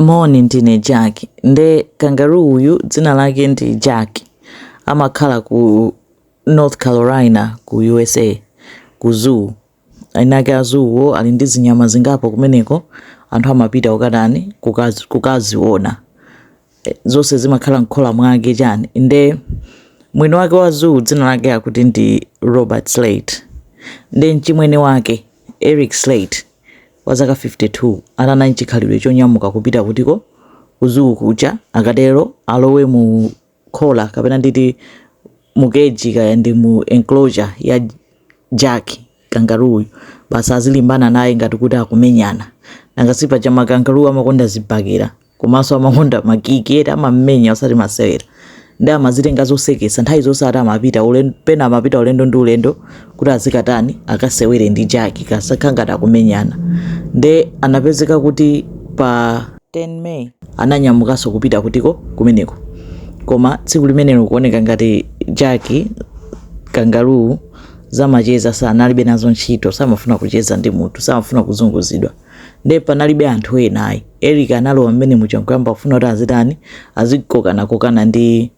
Moni ndine Jack nde kangaroo uyu dzina lake ndi Jack amakhala ku North Carolina ku USA ku zoo inayake a zoowo ali ndi zinyama zingapo kumeneko anthu amapita kukatani kukaziona eh, zonse zimakhala mkhola mwake chani nde mwini wake wa zoo dzina lake akuti ndi robert slate nde mchimwene wake eric slate wa zaka 52 anali nchikhalidwe chonyamuka kupita kutiko kuzuu kuja akatero alowe mu khola kapena nditi mukeji kaya ndi mu enclosure ya jack kangaruyu basi azilimbana naye ngati kuti akumenyana nanga si paja makangaruu amakonda zibakera komanso amakonda makiki eti amamenya osati masewera nde amazitenga zoseketsa nthawi zonse ati amapita ulendo pena amapita ulendo ndi ulendo kuti azikatani akasewere ndi jaki kasaka ngati akumenyana nde anapezeka kuti pa 10 May ananyamukanso kupita kutiko kumeneko koma tsiku limenelo kuoneka ngati jaki kangaruu zamacheza sanalibe nazo ntchito samafuna kucheza ndi munthu samafuna kuzunguzidwa nde panalibe anthu ena ayi eric analowa mmene muja nkumafuna kuti azitani azikokanakokana ndi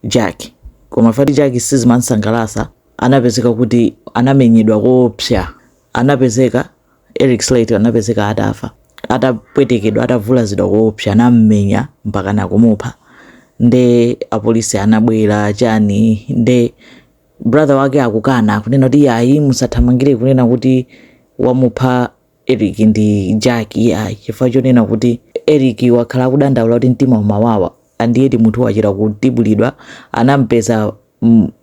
jack koma fati jack sizimamsangalatsa anapezeka kuti anamenyedwa koopsa anapezeka eric slate anapezeka atafa atapwetekedwa atavulazidwa koopsa anammenya mpaka nakumupha nde apolisi anabwera chani nde brother wake akukana akunena kuti yayi musathamangire kunena kuti wamupha Eric ndi Jack ayi chifukwa chonena kuti Eric wakhala akudandaula kuti mtima umawawa and yet munthu wachita kutibulidwa anampeza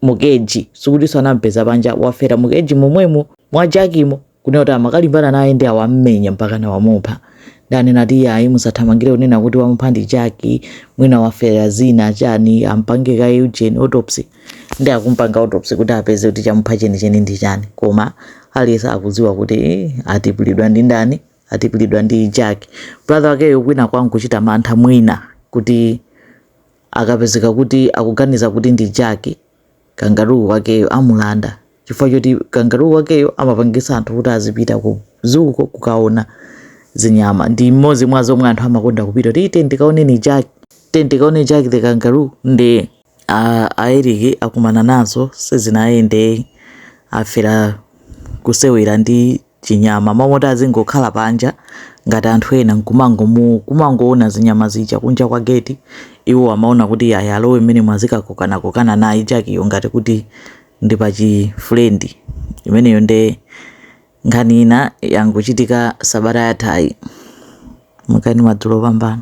mukeji sikutinso anampeza panja wafera mukeji momwemo mwa jakimo kunena kuti amakalimbana naye nde wammenya mpaka nawamupha nde akunena kuti yayi musathamangire kunena kuti wamupha ndi jaki mwina wafera zina chani ampange kaye ujeni autopsy nde akumpanga autopsy kuti apeze kuti chamupha chenicheni ndi chani koma aliyense akudziwa kuti eh, watibulidwa ndi ndani watibulidwa ndi jack brother wakeyo kwinakwake akuchita mantha mwina kuti akapezeka kuti akuganiza kuti ndi jack kangaruu wakeyo amulanda chifukwa choti kangaruu wakeyo amapangisa anthu kuti azipita ku zoo ko kukaona zinyama ndi mmodzi mwa zomwe anthu amakonda kupita kuti eee tikaone jack eee tikaone jack the kangaroo ndi a, a Eric akumana nazo sizinayende afera kusewera ndi chinyama mmomoti azingokhala panja ngati anthu ena nkumangomu kumangoona zinyama zija kunja kwa gate iwo amaona kuti ayi alowe mmenemo azikakokanakokana naye Jack-yo ngati kuti ndi pachi friend imeneyo nde nkhani ina yangochitika sabata yathayi mukani madzulo pambana